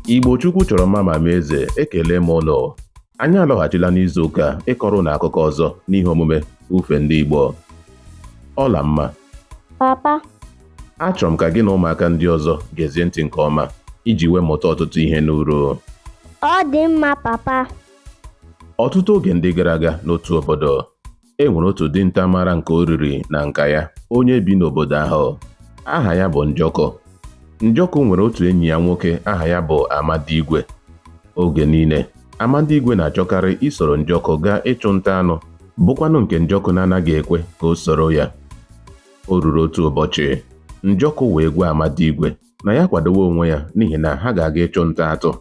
Igbo Chukwu chọrọ mma ma mee eze ekele m unu anyị alọghachila n'izu ụka a ịkọrọ unu akụkọ ọzọ n'ihe omume ufe ndị Igbo Ọlamma papa achọrọ m ka gị na ụmụaka ndị ọzọ gezie ntị nke ọma iji wee mụta ọtụtụ ihe n'uru ọ dị mma papa ọtụtụ oge ndị gara aga n'otu obodo e nwere otu dinta mara nke o riri na nka ya onye bi n'obodo ahụ aha ya bụ njọkụ njọkụ nwere otu enyi ya nwoke aha ya bụ Amadigwe oge niile Amadigwe na-achọkarị isoro njọkụ gaa ịchụ nta anụ bụkwanụ nke njọkụ na-anaghị ekwe ka o soro ya o ruru otu ụbọchị njọkụ wee gwa Amadigwe na ya kwadowe onwe ya n'ihi na ha ga-aga ịchụ nta atụ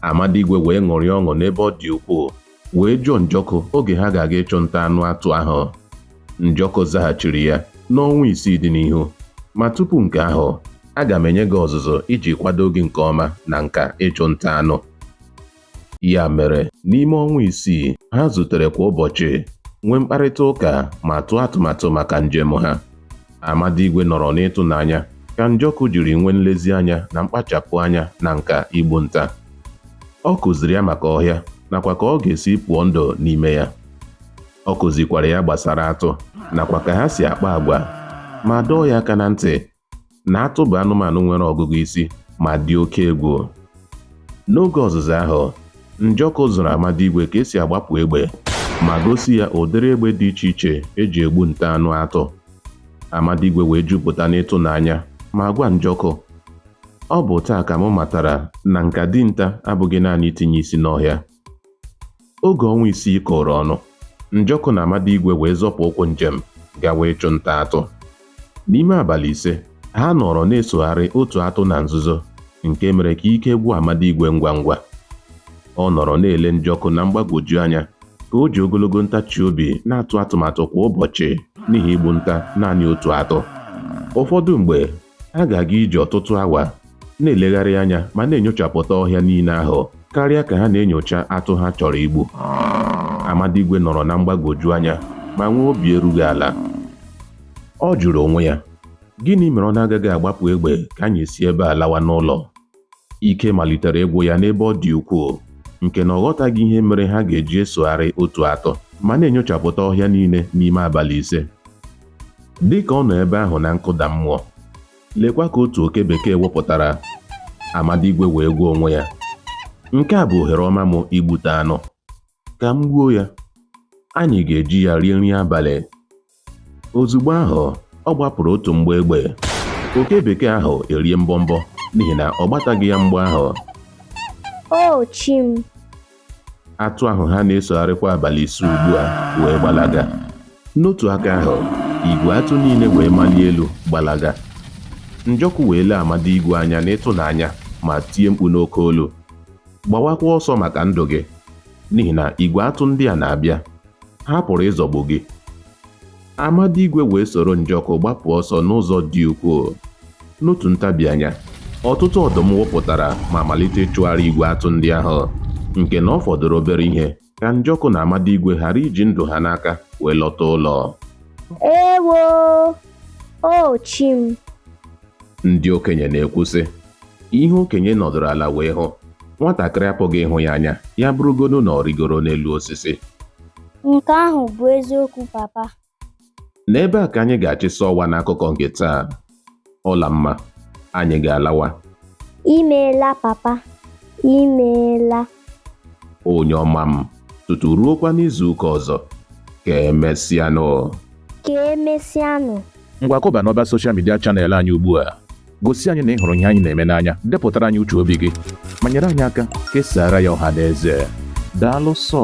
Amadigwe wee ṅụrịa ọṅụ n'ebe ọ dị ukwuu, wee jụọ Njọkụ oge ha ga-aga ịchụ nta anụ atụ ahụ. Njọkụ zaghachiri ya, N'ọnwa isii dị n'ihu. Ma tupu nke ahụ, aga m enye gị ọzụzụ iji kwado gị nke ọma na nka ịchụ nta anụ. Ya mere, n'ime ọnwa isii, ha zutere kwa ụbọchị, nwee mkparịta ụka ma tụọ atụmatụ maka njem ha. Amadigwe nọrọ n'ịtụnanya ka Njọkụ jiri nwee nlezianya na mkpachapụ anya na nka igbu nta. Ọ kụziri ya maka ọhịa nakwa ka ọ ga-esi pụọ ndụ n'ime ya. Ọ kụzikwara ya gbasara atụ nakwa ka ha si akpa agwa ma dọọ ya aka na ntị na atụ bụ anụmanụ nwere ọgụgụ isi ma dị oke egwu. N'oge ọzụzụ ahụ, Njọkụ zụrụ Amadigwe ka e si agbapụ egbe ma gosi ya ụdịrị egbe dị iche iche e ji egbu nta anụ atụ. Amadigwe wee jupụta n'ịtụnanya ma gwa Njọkụ, Ọ bụ taa ka mụ matara na nka dinta abụghị naanị itinye isi n'ọhịa. Oge ọnwa isii kụrụ ọnụ, Njọkụ na Amadigwe wee zọpụ ụkwụ njem gawa ịchụ nta atụ. N'ime abalị ise, ha nọrọ na-esogharị otu atụ na nzuzo, nke mere ka ike gwụ Amadigwe ngwa ngwa. Ọ nọrọ na-ele Njọkụ na mgbagwoju anya ka o ji ogologo ntachi obi na-atụ atụmatụ kwa ụbọchị n'ihi igbu nta naanị otu atụ. Ụfọdụ mgbe, ha ga-aga ije ọtụtụ awa na-elegharị anya ma na-enyochapụta ọhịa niile ahụ karịa ka ha na-enyocha atụ ha chọrọ igbu Amadigwe nọrọ na mgbagwoju anya ma nwee obi erughị ala ọ jụrụ onwe ya gịnị mere ọ na-agaghị agbapụ egbe ka anyị si ebe a lawa n'ụlọ ike malitere ịgwụ ya n'ebe ọ dị ukwuu nke na ọ ghọtaghị ihe mere ha ga-eji esogharị otu atụ ma na-enyochapụta ọhịa niile n'ime abalị ise dị ka ọ nọ ebe ahụ na nkụda mmụọ Lekwa ka otu oke bekee wụpụtara. Amadigwe wee gwa onwe ya, Nke a bụ ohere ọma m igbute anụ. Ka m gbuo ya. Anyị ga-eji ya rie nri abalị. Ozugbo ahụ, ọ gbapụrụ otu mgbọ egbe. Oke bekee ahụ erie mbọmbọ n'ihi na ọ gbataghị ya mgbọ ahụ. O chi m! Atụ ahụ ha na-esogharịkwa abalị ise ugbu a wee gbalaga. N'otu aka ahụ, igwe atụ niile wee malie elu gbalaga. Njọkụ wee lee Amadigwe anya n'ịtụnanya ma tie mkpu n'oke olu, Gbawakwa ọsọ maka ndụ gị, n'ihi na igwe atụ ndị a na-abịa! ha pụrụ ịzọgbu gị Amadigwe wee soro Njọkụ gbapụ ọsọ n'ụzọ dị ukwuu n'otu ntabi anya ọtụtụ ọdụm wụpụtara ma malite ịchụgharị igwe atụ ndị ahụ nke na ọ fọdụrụ obere ihe ka Njọkụ na Amadigwe ghara iji ndụ ha n'aka wee lọta ụlọ ewo o chi m ndị okenye na-ekwu sị ihe okenye nọdụrụ ala wee hụ nwatakịrị apụghị ịhụ ya anya ya bụrụgodu na ọ rịgoro n'elu osisi Nke ahụ bụ eziokwu papa. n'ebe a ka anyị ga-achịsa ọwa n'akụkọ nke taa Ọlamma anyị ga-alawa Imeela papa. Imeela. onye ọma m tutu ruokwa n'izuụka ọzọ ka emesịanụ ka emesịanụ ngwa kọba n'ọba soshal midia chanel anyị ugbu a gosi anyị na ị hụrụ ihe anyị na-eme n'anya depụtara anyị uche obi gị ma nyere anyị aka kesaara ya ọha na eze daalụ sọ